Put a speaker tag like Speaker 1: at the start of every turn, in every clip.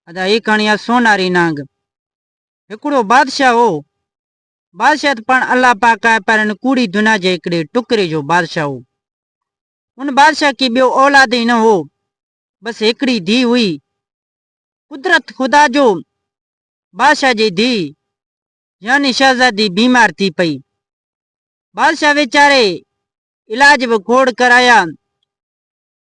Speaker 1: ادا هي ڪهاڻي آهي سوناري نانگ. هڪڙو بادشاهه هو. بادشاهه ته پاڻ الله پاڪ آهي پر هن ڪوڙي دنيا جي هڪڙي ٽڪري جو بادشاهه هو. ان بادشاهه کي ٻيو اولاد ئي نه هو. بس هڪڙي ڌيء هئي. قدرت خدا جو بادشاهه جي ڌيء يعني شهزادي بيمار ٿي پئي. بادشاهه ويچاري علاج به کوڙ ڪرايا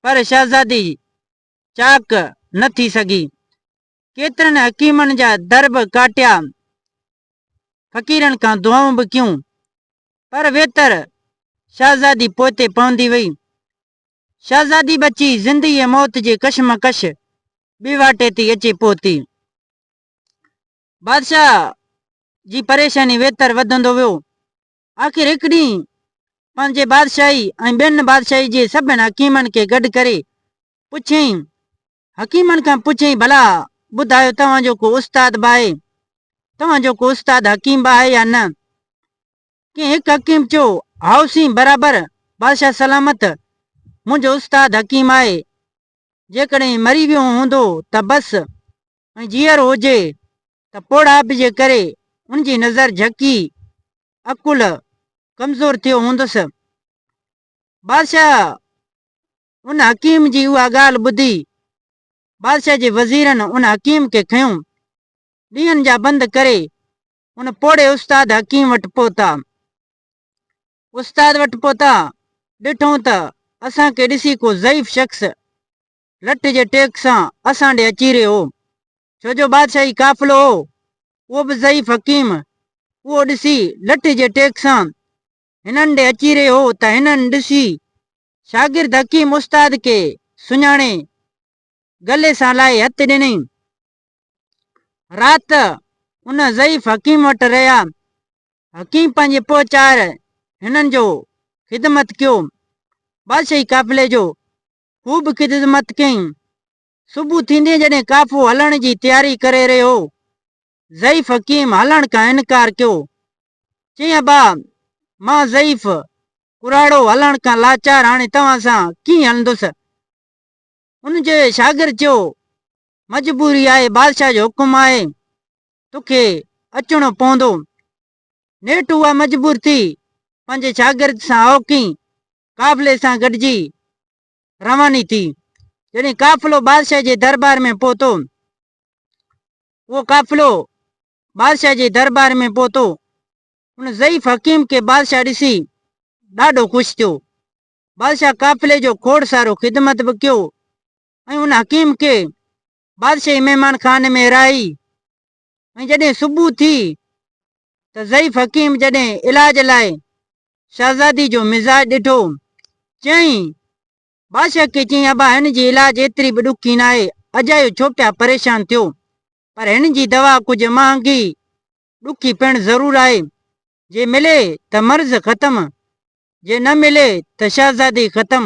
Speaker 1: پر شهزادي چاڪ نه ٿي سگهي. ڪيترن حڪيمن جا در به ڪاٽيا، فقيرن کان دعائون به ڪيون، پر ويتر شهزادي پوئتي پوندي وئي. شهزادي ٻچي زندي ۽ موت جي ڪشمڪش ٻيواٽي تي اچي پهتي. بادشاهه جي پريشاني ويتر وڌندو ويو. آخر هڪ ڏينهن پنهنجي بادشاهي ۽ ٻين بادشاهي جي سڀن حڪيمن کي گڏ ڪري پڇيائين، حڪيمن کان پڇيائين ڀلا ٻڌايو توهان جو ڪو استاد به آهي؟ توهان جو ڪو استاد حڪيم به آهي يا نه؟ ڪنهن هڪ حڪيم چيو، هائو سين برابر بادشاهه سلامت منهنجو استاد حڪيم آهي، جيڪڏهن مري ويو هوندو ته بس ۽ جيئرو هجي ته پوڙهائپ جي ڪري ان جي نظر جهڪي، عقل ڪمزور ٿيو هوندس. بادشاهه ان حڪيم جي اها ڳالهه ٻڌي، بادشاهه جي وزيرن ان حڪيم کي کنيو، ڏينهن جا بند ڪري ان پوڙهي استاد حڪيم وٽ پهتا. استاد وٽ پهتا، ڏٺئون ته اسان کي ڏسي ڪو ضعيف شخص لٺ جي ٽيڪ سان اسان ڏي اچي رهيو هو، ڇو جو بادشاهي قافلو هو، اهو به ضعيف حڪيم، اهو ڏسي لٺ جي ٽيڪ سان هنن ڏي اچي رهيو هو ته هنن ڏسي شاگرد حڪيم استاد کي سڃاڻي گلي سان لائي هٿ ڏنئين. رات ان ضعيف حڪيم وٽ رهيا، حڪيم پنهنجي پوء چار هنن جو خدمت ڪيو، بادشاهي قافلي جو هو به خدمت ڪيائين. صبح ٿيندي جڏهن قافو هلڻ جي تياري ڪري رهيو هو، ضعيف حڪيم هلڻ کان انڪار ڪيو. چيائين ابا، مان ضعيف، ڪراڙو، هلڻ کان لاچار هاڻي توهان سان ڪيئن هلندس؟ ان جي شاگرد چيو، مجبوري آهي بادشاهه جو حڪم آهي، توکي اچڻو پوندو. نيٺ هوء مجبور ٿي پنهنجي شاگرد سان اوهڪين قافلي سان گڏجي رواني ٿي. جڏهن قافلو بادشاهه جي دربار ۾ پهتو اهو قافلو بادشاهه جي دربار ۾ پهتو ان ضعيف حڪيم کي بادشاهه ڏسي ڏاڍو خوش ٿيو. بادشاهه قافلي جو کوڙ سارو خدمت به ڪيو ۽ ان حڪيم کي بادشاهي مهمان خاني ۾ رهائي ۽ جڏهن صبح ٿي ته ضعيف حڪيم جڏهن علاج لاء شهزادي جو مزاج ڏٺو، چيائين، بادشاهه کي چيائين، ابا هن جي علاج ايتري به ڏکي ناهي، اجايو ڇو پيا پريشان ٿيو، پر هن جي دوا ڪجهه مهانگي، ڏکي پڻ ضرور آهي، جي ملي ته مرض ختم، جي نه ملي ته شهزادي ختم.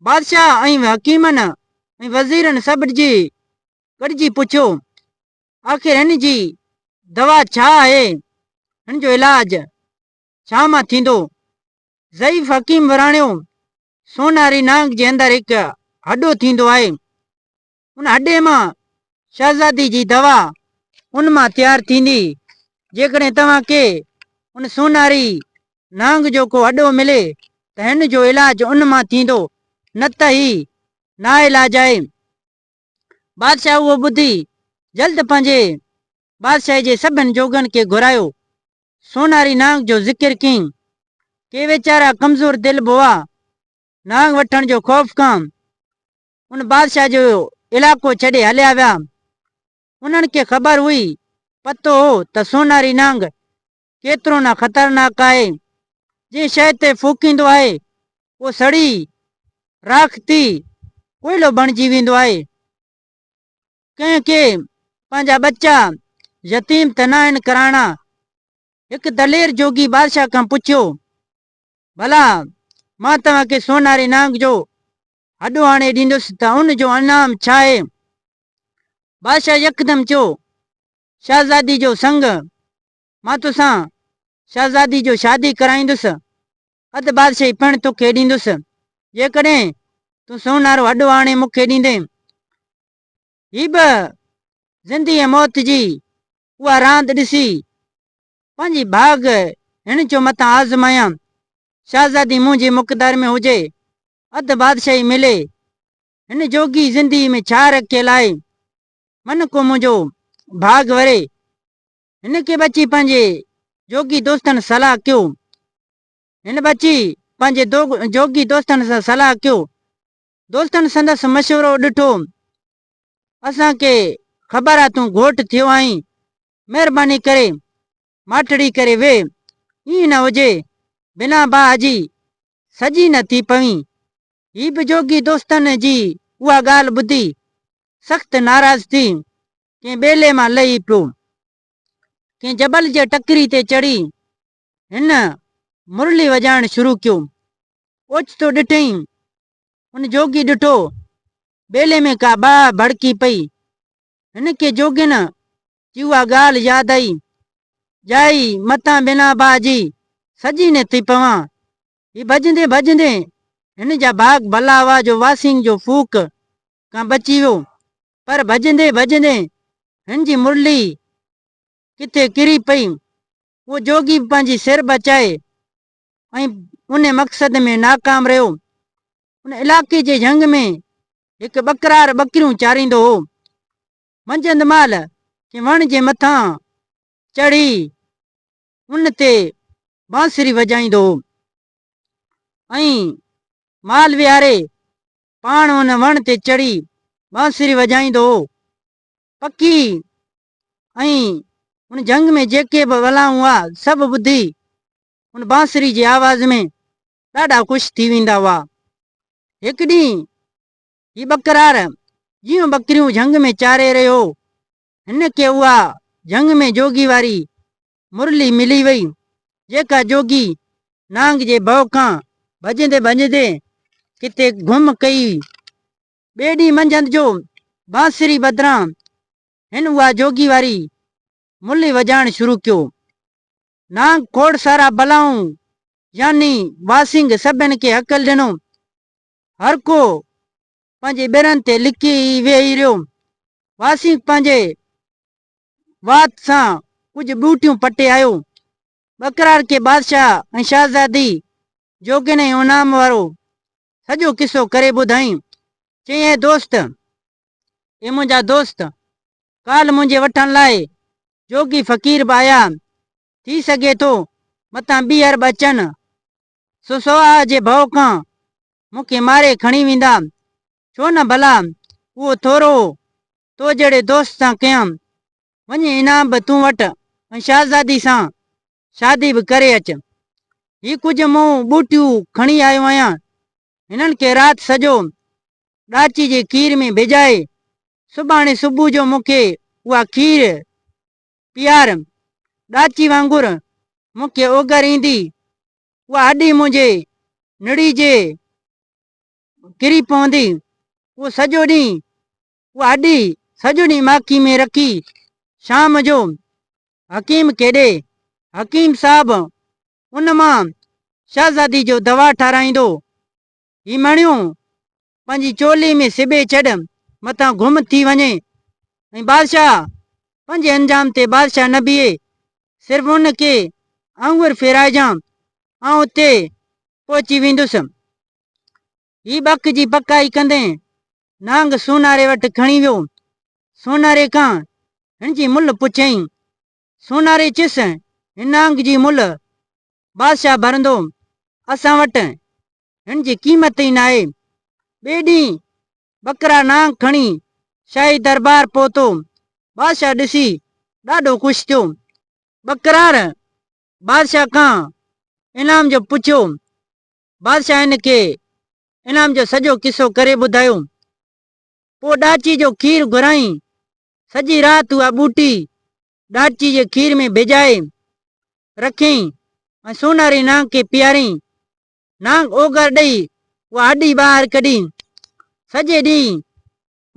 Speaker 1: بادشاهه ۽ حڪيمن ۽ وزيرن سڀ جي گڏجي پڇيو، آخر هن جي دوا ڇا آهي؟ هن جو علاج ڇا مان ٿيندو؟ ضعيف حڪيم وراڻيو، سوناري نانگ جي اندر هڪ هڏو ٿيندو آهي، ان اڏي مان شهزادي جي دوا ان مان تيار ٿيندي. جيڪڏهن توهان کي ان سونهاري نانگ جو ڪو اڏو ملي ته هن جو علاج ان مان ٿيندو، نه ته هي ناعلاج آهي. بادشاهه اهو ٻڌي جلد پنهنجي بادشاهي جي سڀن جوڳن کي گهرايو. سونهاري نانگ جو ذڪر ڪيائين. ڪي ويچارا ڪمزور دل به هئا. نانگ وٺڻ جو خوف کان ان بادشاهه جو علائقو ڇڏي هليا ويا. انهن کي خبر هئي، پتو هو ته سوناري نانگ ڪيترو نه خطرناڪ آهي. جنهن شيء تي ڦوڪيندو آهي، اهو سڙي، راک ٿي، ڪوئلو بڻجي ويندو آهي. ڪنهن کي پنهنجا ٻچا يتيم ته ناهن ڪرائڻا؟ هڪ دلير جوڳي بادشاهه کان پڇيو، ڀلا مان توهان کي سوناري نانگ جو هڏو آڻي ڏيندس ته ان جو انعام ڇا آهي؟ بادشاهه يڪدم چيو، شهزادي جو سڱ، مان توسان شهزادي جو شادي ڪرائيندس، اڌ بادشاهي پڻ توکي ڏيندس، جيڪڏهن تون سونارو هڏو آڻي مون کي ڏيندين. هي به زندي ۽ موت جي اها راند ڏسي پنهنجي ڀاڳ هن جو مٿان آزمايان. شهزادي منهنجي مقدار ۾ هجي، اڌ بادشاهي ملي. هن جوڳي زندگيء ۾ ڇا رکيل آهي؟ من ڪو منهنجو ڀاڳ وري. هن کي به اچي پنهنجي جوڳي دوستن صلاح ڪيو. هن به اچي پنهنجي جوڳي دوستن سان صلاح ڪيو. دوستن سندس مشورو ڏٺو. اسان کي خبر آهي تون گهوٽ ٿيو آهين. مهرباني ڪري ماٺڙي ڪري ويهه، ائين نه هجي بنا باهه جي سڄي نه ٿي پوين. هي به جوڳي دوستن جي اها ڳالهه ٻڌي سخت ناراض ٿي ڪنهن ٻيلي مان لهي پيو. ڪنهن جبل جي ٽڪري تي چڙهي هن مرلي وڄائڻ شروع ڪيو. اوچتو ڏٺئين ان جوڳي ڏٺو ٻيلي ۾ ڪا باهه ڀڙڪي پئي. هن کي جوڳين جي اها ڳالهه ياد آئي. ڄائي متان بنا باهه جي سڄي نه ٿي پوان. هي ڀڄندي ڀڄندي هن جا ڀاڳ ڀلا هئا جو واسينگ جو ڦوڪ کان بچي ويو. پر ڀڄندي ڀڄندي هن جي مرلي ڪٿي ڪري پئي. اهو جوڳي به پنهنجي سر بچائي ۽ ان مقصد ۾ ناڪام رهيو. ان علائقي جي جهنگ ۾ هڪ ٻڪرار ٻڪريون چاريندو هو. منجهند مهل ڪنهن وڻ جي مٿان چڙهي ان تي بانسري وڄائيندو هو ۽ مال ويهاري پاڻ ان وڻ تي چڙهي بانسري وڄائيندو هو. پکي ۽ ان جهنگ ۾ جيڪي به ولائون هئا سڀ ٻڌي ان بانسري جي آواز ۾ ڏاڍا خوش ٿي ويندا هئا. هڪ ڏينهن هي ٻڪرار جيون ٻڪريون جهنگ ۾ چاري رهيو هو هن کي اها جهنگ ۾ جوڳي واري مرلي ملي وئي جيڪا جوڳي نانگ جي ڀؤ کان ڀڄندي ڀڄندي ڪٿي گم ڪئي ٻئي ڏينهن منجهند جو بانسري بدران هن اها جوڳي واري ملهي وڄائڻ شروع ڪيو. نانگ کوڙ سارا بلائون يعني واسنگ سڀن کي هڪل ڏنو. هر ڪو پنهنجي ٻرن تي لڪي ئي ويهي رهيو. واسنگ پنهنجي وات سان ڪجهه ٻوٽيون پٽي آيو. ٻڪرار کي بادشاهه ۽ شاهزادي جوڳين ۽ انعام وارو سڄو قصو ڪري ٻڌائين. چيائين اي دوست! اي منهنجا دوست! ڪالهه منهنجي وٺڻ لاء جوڳي فقير به آيا، ٿي سگهي ٿو متان ٻيهر به اچن، سو سوهاء جي ڀؤ کان مون کي ماري کڻي ويندا، ڇو نه ڀلا اهو ٿورو تو جهڙي دوست سان ڪيان، وڃي انعام به تون وٺ ۽ شهزادي سان شادي به ڪري اچ. هي ڪجهه مون ٻوٽيون کڻي آيو آهيان، هنن کي رات سڄو ڏاچي جي کير ۾ ڀيڄائي، سڀاڻي صبح جو مون کي اها کير پيار. ڏاچي وانگر مون کي اوڳر ايندي اها اڏي منهنجي نڙي جي ڪري پوندي. اهو سڄو ڏينهن اڏي سڄو ڏينهن ماکي ۾ رکي شام جو حڪيم کي ڏي. حڪيم صاحب ان مان شهزادي جو دوا ٺارايندو. هي مڻيو پنهنجي چولي ۾ سبي ڇڏ مٿان گم ٿي وڃي ۽ بادشاهه پنهنجي انجام تي بادشاهه نه بيهي. صرف ان کي آڱر ڦيرائجان آئون اتي پهچي ويندس. هي ٻڪ جي پڪائي ڪندي نانگ سوناري وٽ کڻي ويو. سوناري کان هن جي ملهه پڇيائين. سوناري چيس، هن نانگ جي ملهه بادشاهه ڀرندو. اسان وٽ هن جي قيمت ئي ناهي. ٻئي ڏينهن ٻڪرا نانگ کڻي شاهي دربار پهتو. بادشاهه ڏسي ڏاڍو خوش ٿيو. ٻڪرار بادشاهه کان انعام جو پڇيو. بادشاهه هن کي انعام جو سڄو قصو ڪري ٻڌايو. پوء ڏاچي جو کير گهرائين. سڄي رات اها ٻوٽي ڏاچي جي کير ۾ ڀيڄائي رکيائين ۽ سوناري نانگ کي پياريائين. نانگ اوڳر ڏئي اها هڏي ٻاهر ڪڍي. سڄي ڏينهن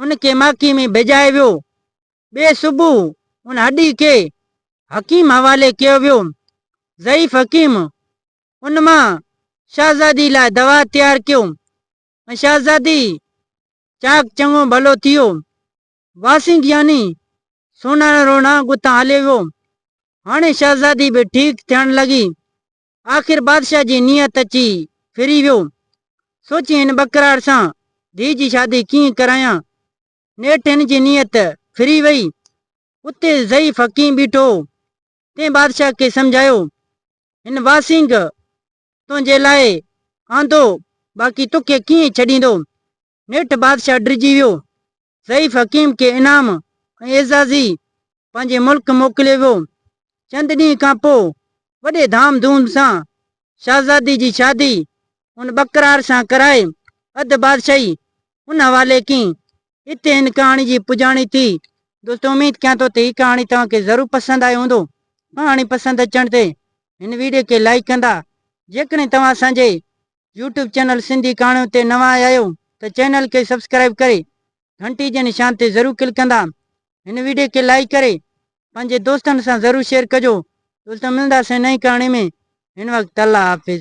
Speaker 1: ان کي ماکي ۾ ڀيڄائي ويو. ٻئي صبح ان هڏي کي حڪيم حوالي ڪيو ويو. ضعيف حڪيم ان مان شاھزادي لاء دوا تيار ڪيون ۽ شاھزادي چاڪ چڱو ڀلو ٿي ويو. واسين گياني سونارڻ رونا گتان ھليو ويو. ھاڻي شاھزادي به ٺيڪ ٿيڻ لڳي. آخر بادشاھ جي نيت اچي ڦري ويو. سوچي ھن ٻڪراڙ سان ڌيء جي شادي ڪيئن ڪرايان. نيٺ ھن جي نيت ڦري وئي. اتي ضعيف حڪيم بيٺو ھو. تنھن بادشاھ کي سمجھايو هن واسينگ تنهنجي لاء آندو، باقي توکي ڪيئن ڇڏيندو. نيٺ بادشاهه ڊڄي ويو. ضعيف حڪيم کي انعام ۽ اعزازي پنهنجي ملڪ موڪليو ويو. چند ڏينهن کان پوء وڏي ڌام ڌوم سان شهزادي جي شادي ان ٻڪرار سان ڪرائي اڌ بادشاهي ان حوالي ڪئي. اتي هن ڪهاڻي جي پڄاڻي ٿي. دوستو اميد ڪيان ٿو ته هي ڪهاڻي توهان کي ضرور پسند آئي هوندو. ڪهاڻي پسند اچڻ تي هن ويڊيو کي لائيڪ ڪندا. جيڪڏهن توهان اسان جي يوٽيوب چينل سنڌي ڪهاڻيون تي نوان آيا آهيو ته چينل کي سبسڪرائيب ڪري گهنٽي جي نشان تي ضرور ڪلڪ ڪندا. هن ويڊيو کي لائيڪ ڪري پنهنجي دوستن سان ضرور شيئر ڪجو. دوستو ملنداسين نئين ڪهاڻي ۾ هن وقت الله حافظ.